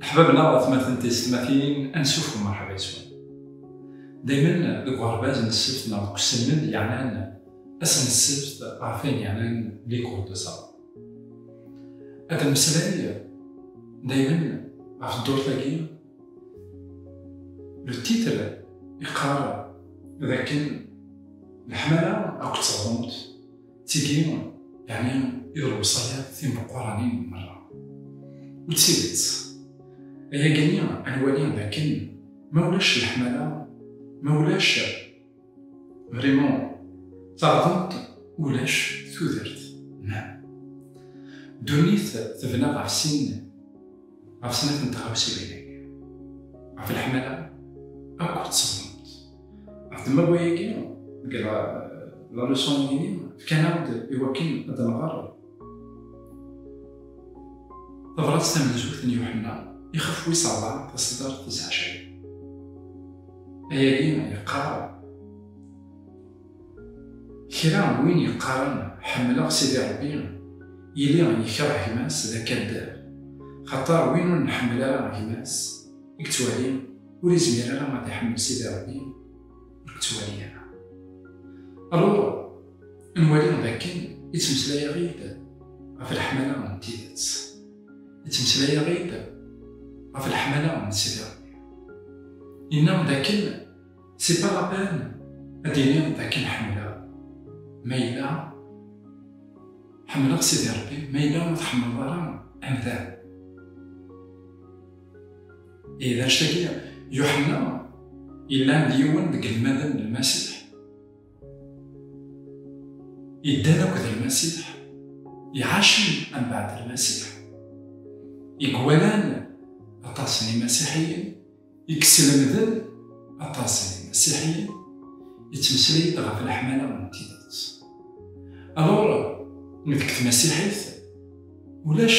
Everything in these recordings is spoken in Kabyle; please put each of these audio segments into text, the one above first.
Leḥbab neɣ atmaten d teysetmatin, ansuf u merḥba yes-wen. Daymen deg uɣerbaz n ssebt neɣ deg uselmed yeɛnan ass n ssebt ɣef wayen yeɛnan les cours de ça. Ad nemmeslay daymen ɣef ddurt-agi, le titre yeqqar d akken leḥmala akked teɣdemt, Tigi, yeɛni i d lewṣayat timeqquranin merra. U d tidet, ayagi-nni ad nwali d akken ma ulac leḥmala, ma ulac vraiment taɣdemt, ulac tudert. Naam. Ddunit tebna ɣef sin, ɣef snat n tɣawsiwin-agi, ɣef leḥmala akked tseḍlemt. Ɛetma wayagi, deg la leçon ini, fkan-aɣ-d i wakken ad nɣer tabrat tamenzut n Yuḥenna ixef wis ṛebɛa taṣeddart tis ɛecrin. Ayagi yeqqar, Kra n win yeqqaren ḥemmleɣ Sidi Ṛebbi, yili yekreh gma-s d akaddab, xaṭer win ur nḥemmel ara gma-s i yettwali ur izmir ara ad iḥemmel Sidi Ṛebbi ur k-ttwali ara. Alur, nwali d akken ittmeslay-aɣ-id ɣef leḥmala n tidet. Ittmeslay-aɣ-id ɣef leḥmala n Sidi Ṛebbi. Yenna d akken c'est pas la peine ad iniɣ d akken ḥemmleɣ ma yella ḥemmleɣ Sidi Ṛebbi ma yella ur tḥemmleḍ ara amdan. Ihi d anect-agi Yuḥenna yellan d yiwen deg lmaden n Lmasiḥ. Yeddan akked Lmasiḥ, iɛacen ambaɛd Lmasiḥ. I gwalan aṭas n Imasiḥiyen, i yeslemden aṭas n Imasiḥiyen, yettmeslay-d ɣef leḥmala n tidet. Alors, deg tmasiḥit, ulac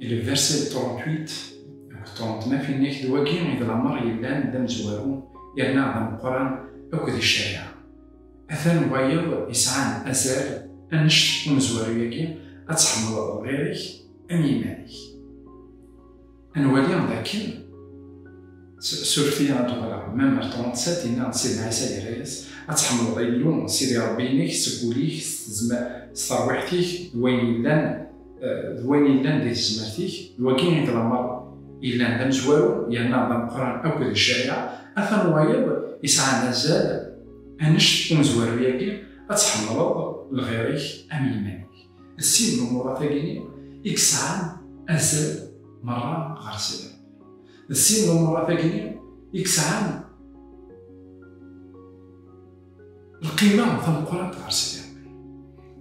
Il est versé 38 ṭṭunt ma finnek d wagi i d lamer yellan d amezwaru yerna d ameqqran akk di ccariɛa. Atan wayeḍ yesɛan azal annect umezwaru-yagi ad tḥemmleḍ lɣir-ik am yiman-ik. Ad nwali dakken surfti ad d-walaɣ mem ar 37 inna Sidi Ɛisa yerra-yas ad tḥemmleḍ Illu Sidi Ṛebbi-inek seg wul-ik s terwiḥt-ik d wayen yellan d wayen yellan di tezmert-ik d wagi i d lameṛ yellan d amezwaru yerna d ameqqran akk di ccariɛa atan wayeḍ yesɛan azal annect umezwaru-yagi ad tḥemmleḍ lɣir-ik am yiman-ik. D sin n umurat-agi-nni i yesɛan azal merra ɣer Sidi Rebbi. D sin n umurat-agi-nni i yesɛan lqima tameqqrant ɣer Sidi Rebbi.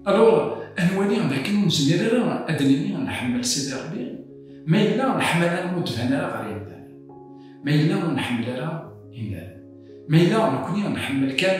Alors, ad nwali d akken ur nezmir ara ad d-nini nḥemmel Sidi Rebbi ma yella leḥmala ur d-tban ara ɣer yimdanen, ma yella ur nḥemmel ara imdanen, ma yella nekkni nḥemmel kan,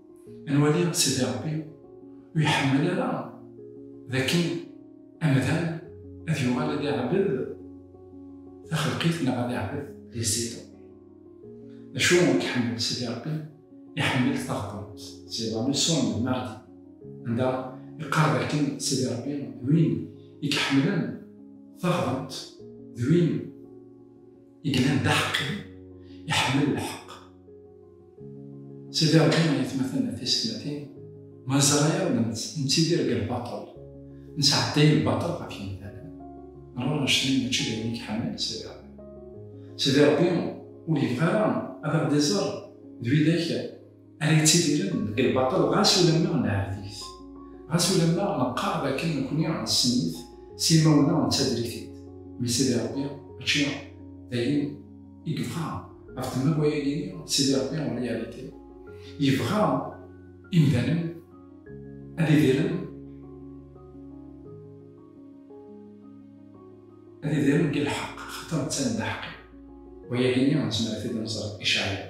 Nwali Sidi Ṛebbi ur iḥemmel ara d akken amdan ad yuɣal ad iɛbed taxelqit neɣ ad iɛbed di Sidi Ṛebbi. D acu i iḥemmel Sidi Ṛebbi? Iḥemmel taɣdemt, c'est la leçon de mardi, anda iqqar d akken Sidi Ṛebbi d win i iḥemmlen taɣdemt, d win i yellan d aḥeqqi, iḥemmel lḥeqq. Sidi Ṛebbi, ay atmaten d tisetmatin, ma neẓra-aɣ la nettidir deg lbaṭel, nesɛedday lbaṭel ɣef yemdanen, neɣ annect-nni mačči d ayen i iḥemmel Sidi Ṛebbi. Sidi Ṛebbi ur yebɣi ara ad aɣ-d-iẓer d widak. Ara yettidiren deg lbaṭel ɣas ulamma neɛbed-it, ɣas ulamma neqqar dakken nekkni nessen-it s imawen-a nettader-it-id, mmi Sidi Ṛebbi mačči d ayen i yebɣa ɣef temma wayagi-nni Sidi Ṛebbi en réalité yebɣa imdanen ad idiren ad idiren deg lḥeqq xaṭer netta d aḥeqqi, wayagi-nni nezmer ad t-id-nẓer i Caɛyan.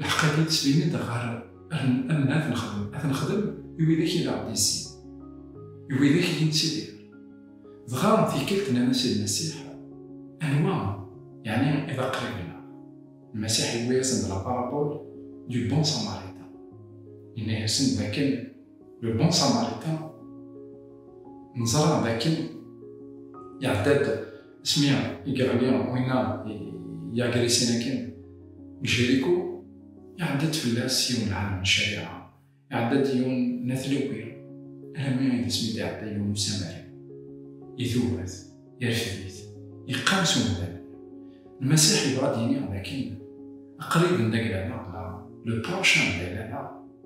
Lḥeqq agi ttbin-d ɣer amen ad nexdem, ad nexdem i widak i d aɣ-d-yessin, i widak i d-nettidir. Dɣa tikkelt nnan-as i Lmasiḥ, Anwa yeɛni i d aqrib-nneɣ? Lmasiḥ yewwi-yasen-d la parabole du bon samaritain. Yenna-yasen d akken le bon samaritain neẓra d akken iɛedda-d, Smiɛ i yeɣli winna yeɛger i sin akken, deg Jérico, iɛedda-d fell-as yiwen n ɛalim n ccariɛa, iɛedda-d yiwen n At Lewwi, alammi i d asmi d-iɛedda yiwen n usamari, idub-it, irfed-it, yeqqim s umdan. Lmasiḥ yebɣa ad d-yini dakken aqrib n Daglameɣ neɣ le prochain de Daglameɣ